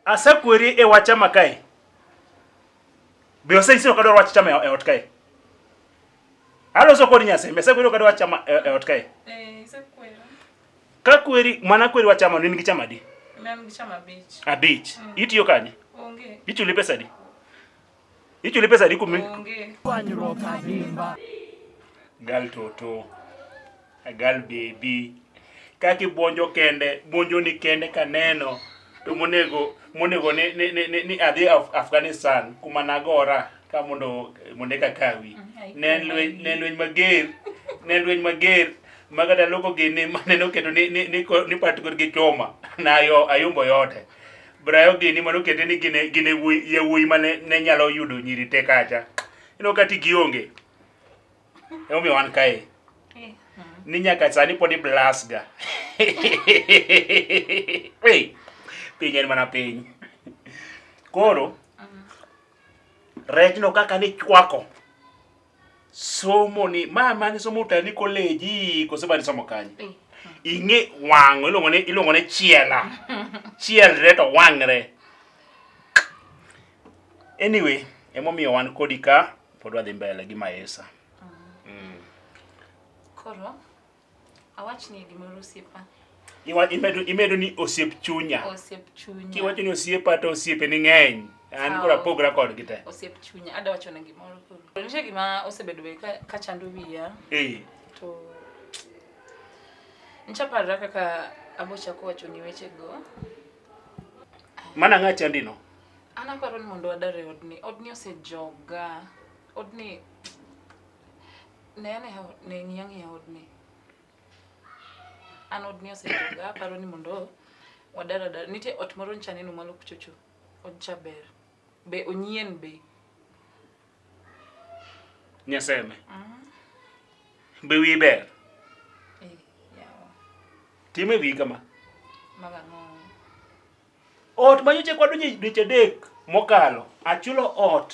Asekweri e wach chama kae. Be osenyisi ni ok adwar wach chama e ot kae? Aloso kod Nyasaye, be asekweri ok adwar wach chama e e ot kae? Eh, isekwera. Ka kweri mana kweri wach chama in gi chama adi? Mem gi chama abich. Abich. Itiyo kanye? Onge. Ichuli pesa adi? Hicho ile pesa liko mimi. Gal toto. A gal baby. Kaki bonjo kende, bonjo ni kende kaneno. To monego monego ni ni ni, ni adhi Af Afghanistan kuma nagora ka mondo mondo ka kawi. Mm, ne lweny ne lweny mager. Ne lweny mager. Magada loko gini maneno keto ni ni ni, ni patgor gi choma. Na yo ayombo yote. Brayo gini mano kete ni gine gine wuoyi ye wuoyi mane ne nyalo yudo nyiri te kacha. Ino kati gionge. Emo mi wan kae. Ni nyaka sani pod i blast ga. hey, piny en mana piny. Koro rechno kaka ni chwako somo ni ma mane somo utani koleji kose mane somo kanye eh, eh. ing'e wang'o iluongo ni iluongo ni chiela chielre to wang're anyway emomiyo wan kodi ka pod wadhi mbele gi maesa mm. mm. koro Awachni gimoro osiepa. Iwa- imedo imedo ni osiep chunya Osiep chunya. kiwacho ni osiepa to osiepe ni ng'eny an koro Aw. apogra kodgi te Osiep chunya. Ada wacho na gimoro koro. Nitie gima osebedo be ka, ka chando wiya Eh, to nchaparra kaka abochako wacho ni wechego. mana ng'a chandino An aparo ni mondo wadar e odni. Odni osejoga. Odni Ne ane ha- ne ng'iya ng'iya odni. An odni osejoga aparo ni mondo wadar adar. Nitie ot moro nyicha neno malo kuchocho. Odcha ber. Be onyien be. Nyaseme. Be wi ber. Eh, yawa. Time wi kama. Maga ng'o. Ot ma nyocha kwa dweche dweche adek mokalo, achulo ot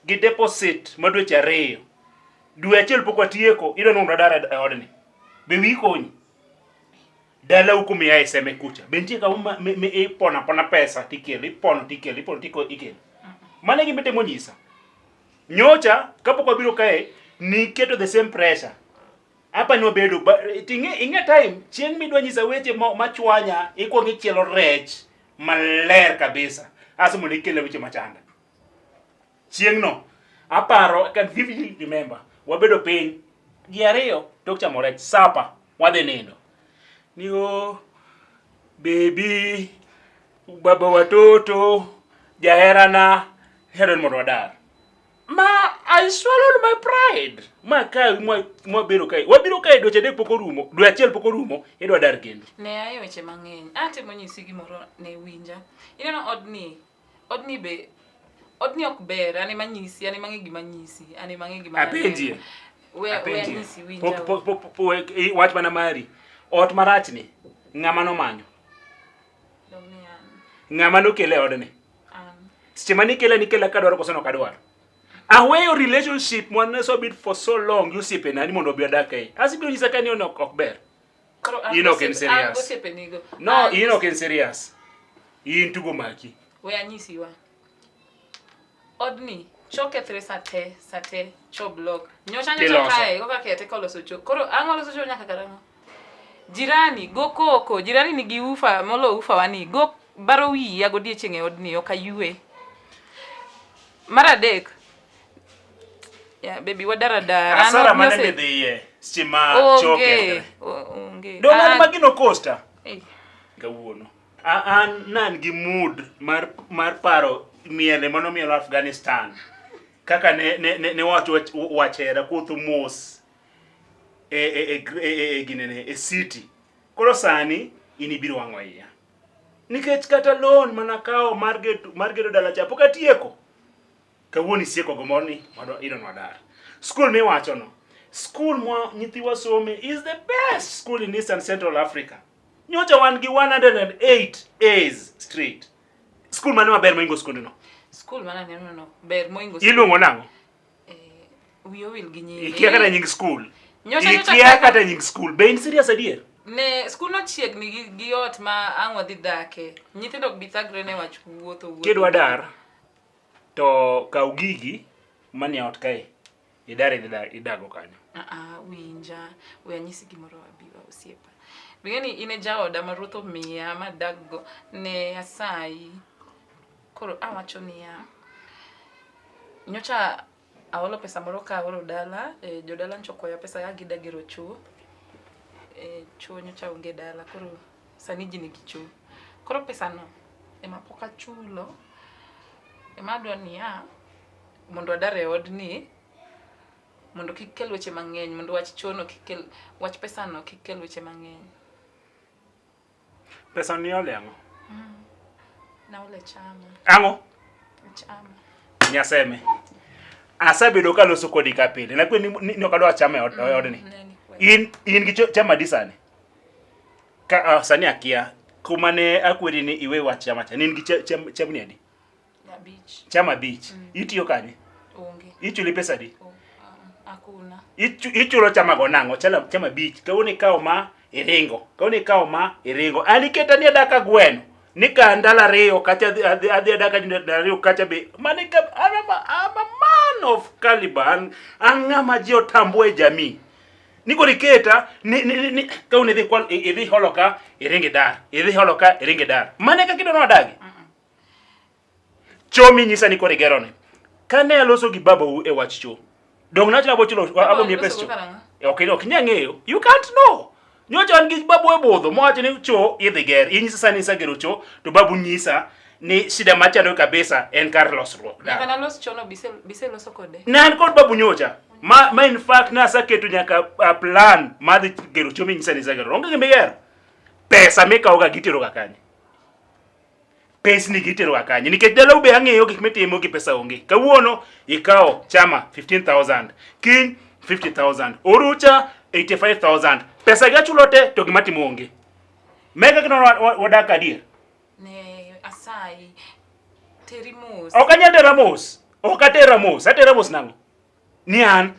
gi deposit ma dweche ariyo. Dwe achiel pok watieko, idwa ni mondo adar e odni. Be wiyi konyi? Dala uko miya e seme kucha. Be nitie kama ma- mi- mi ipono apona pesa tikelo, ipono tikelo, ipono tikelo, ikelo. Mano e gima itemo nyisa. Nyocha kapok wabiro kae, niketo the same pressure. Hapa ni wabedo tinge inge time chieng midwa nyisa weche machwanya ikwongo ichielo rech maler kabisa aso mondo ikele weche machanda chieng no aparo I can vividly remember wabedo piny ji ariyo tok chamo rech sapa wadhi nindo ni o bebi baba watoto jaherana hero mondo wadar Ma I swallowed my pride. Ma ka mwa mwa biro kai. Wabiro kai dweche adek pok orumo, dwe achiel pok orumo, idwa dar kendo. Ne aye weche mang'eny. Atemo nyisi gimoro ne winja. Ineno odni, odni be odni ok ber, ane manyisi, ane mang'e gima nyisi, ane mang'e gima. Apenjie. We we Apenjie. anyisi winja. Pok pok pok pok- pok- i- wach mana mari. Ot marachni ng'ama nomanyo, Dong ni an. ng'ama nokele odni. seche ma nikela nikela kadwaro koso nok adwaro aweyo relationship mwane so bit for so long gi osiepena ni mondo obi odak ei asibiro nyisa ka ni ono ok ber Koro an Enoch en osiepe- serious. an gosiepenigo. no An- in ok en serious in tugo maki we anyisi wa odni chokethre sate sate choblok nyocha nyocha Tiloso. kae koka kete koloso cho koro ang'o loso cho nyaka karang'o Jirani, go koko. Jirani nigi ufa molo ufa wani. Go baro wiya godiechieng' e odni ok ayue. Mar adek, ya bebi wadara dara. Asara mane midhiye seche ma choke. Onge, o- onge. Dong' an An- ma gino costa Ei, kawuono. A- An nan gi mood mar mar paro miele mano mielo Afghanistan. Kaka ne ne ne, ne wacho wach- wachera kuotho mos e, e, e, e, e, e ginene e city koro sani in ibiro wang'o iya nikech kata loan mana kawo mar gedo mar gedo dala cha pok atieko kawuono isieko go morni mondo idon wadar school miwacho no school mwa nyithiwa some is the best school in eastern central africa nyocha wan gi 108 a's straight school mane maber moingo skundno Skul mana neno no ber moingo iluongo nang'o Wiye owil gi nyinge. Ikia kata nying skul. Nyocha nyocha. Ikia kata nying skul. Be in serious adier? Ne skul no chiegni gi, gi ot ma ang' wadhi dhake. Nyithindo ok bi thagre ne wach wuotho wuotho. Kidwa dar to kaw gigi manie ot kae. Idar idhi dar idago kanyo. Ah ah, winja. We anyisi gimoro abiwa osiepa. Bing'e ni in e jaoda ma ruoth omiya ma daggo ne asayi. Koro awacho niya, nyocha aolo pesa moro ka aolo dala, e, jodala nyocha okwaya pesa ka gida gero choo. E, choo nyocha onge dala, koro sani ji nigi choo. Koro pesano ema pok achulo, ema adwa niya, mondo adar e odni, mondo kik kel weche mang'eny, mondo wach choo no kik kel, wach pesano kik kel weche mang'eny. Pesa ni ole ang'o? Mm. Na ole chama. Ang'o? Chama. Nyaseme. Asabedo ka loso kodi ka pile. Na kwe ni ni okadwa chama e od mm, ni. In in gi chama disani. Ka uh, sani akia kuma ne akwedi ni iwe wach chama cha. Nin gi chama ni adi? Abich. Chama abich. Mm. Itiyo kanye? Onge. Ichuli pesa di? Oh, ah, hakuna. Ichu, ichulo chama go nango, chala chama abich. Kawo ni kawo ma iringo. Kawo ni kawo ma iringo. Aliketa ni adaka gweno. Nika ndala riyo kacha adhi adhi adaka ndala riyo kacha be. Mani ka I'm a, I'm a man of caliber. An angama ji otambue jamii. Niko niketa ni, ni, ni, ni kawo ni dhi kwal idhi holoka iringi dar. Idhi holoka iringi dar. Mani ka kido no adagi. Mm. Cho minyisa ni koro igeroni. Kane aloso gi babau e wach cho, donge nawacho ni abiro chulo abiro miye pes cho? E, Ok ok inyal ng'eyo. You can't know. Nyocha an gi babu e budho mowacho ni cho idhi ger. Inyisa sani isegero cho to babu nyisa ni shida machando kabisa en kar losruok. Nyaka nalos chono bise bise loso kode. Ne an kod babu nyocha. Ma, ma in fact ne aseketo nyaka a plan mar dhi gero cho minyisa ni isegero. Onge gima igero. Pesa mikawoga giteroga kanye? pesni gi iteroga kanye nikech dalau be ang'eyo gik mitimo gi pesa onge kawuono ikawo chama 15000 kiny 50000 orucha 85000 pesa gi achulo te to gima timo onge mega kino wadak adier ne asayi teri mos ok anyal tera mos ok atera mos atera mos nang'o Ni an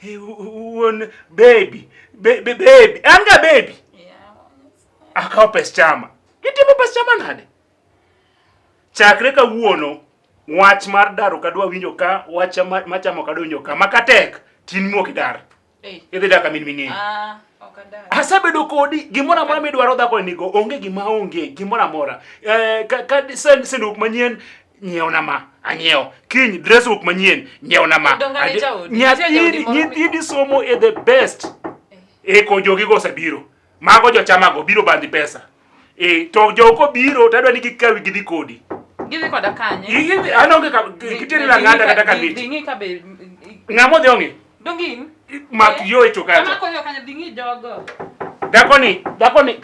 wuon baby baby baby an ga baby akawo pes chama gitimo pes chama nade chakre kawuono wach mar daro kadwa winjo ka wach machamo kadwa winjo ka makatek tin muok idar Eh. Idhi dak amin ming'e. Ah, ok adak. Asebedo kodi gimoro amora midwaro dhako nigo onge gima onge gimoro amora. Eh ka, ka sen senduk manyien nyiewo na ma anyiewo kiny dress book manyien nyiewo na ma Donga ni jaodi. Nitie jaodi moro nyathi nyathi somo e the best e ko jogi go osebiro Mago jochamago biro bandhi pesa. Eh, to joko biro to adwa ni gikawi gidhi kodi. Gidhi koda kanye? Gidhi anonge ka giteri la ngada kata ka miti. Dingi ka be. Ngamo dhi onge? Dongin. Mak eh? yo e choka. Kama koyo kanya dingi jogo. Dakoni, dakoni.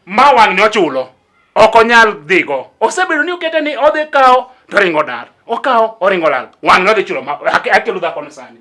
ma wang'ni ochulo ok onyal dhigo osebedo ni okete ni odhi kawo to oringo dar okawo oringo lal wang'ni odhi chulo akelo dhakoni sani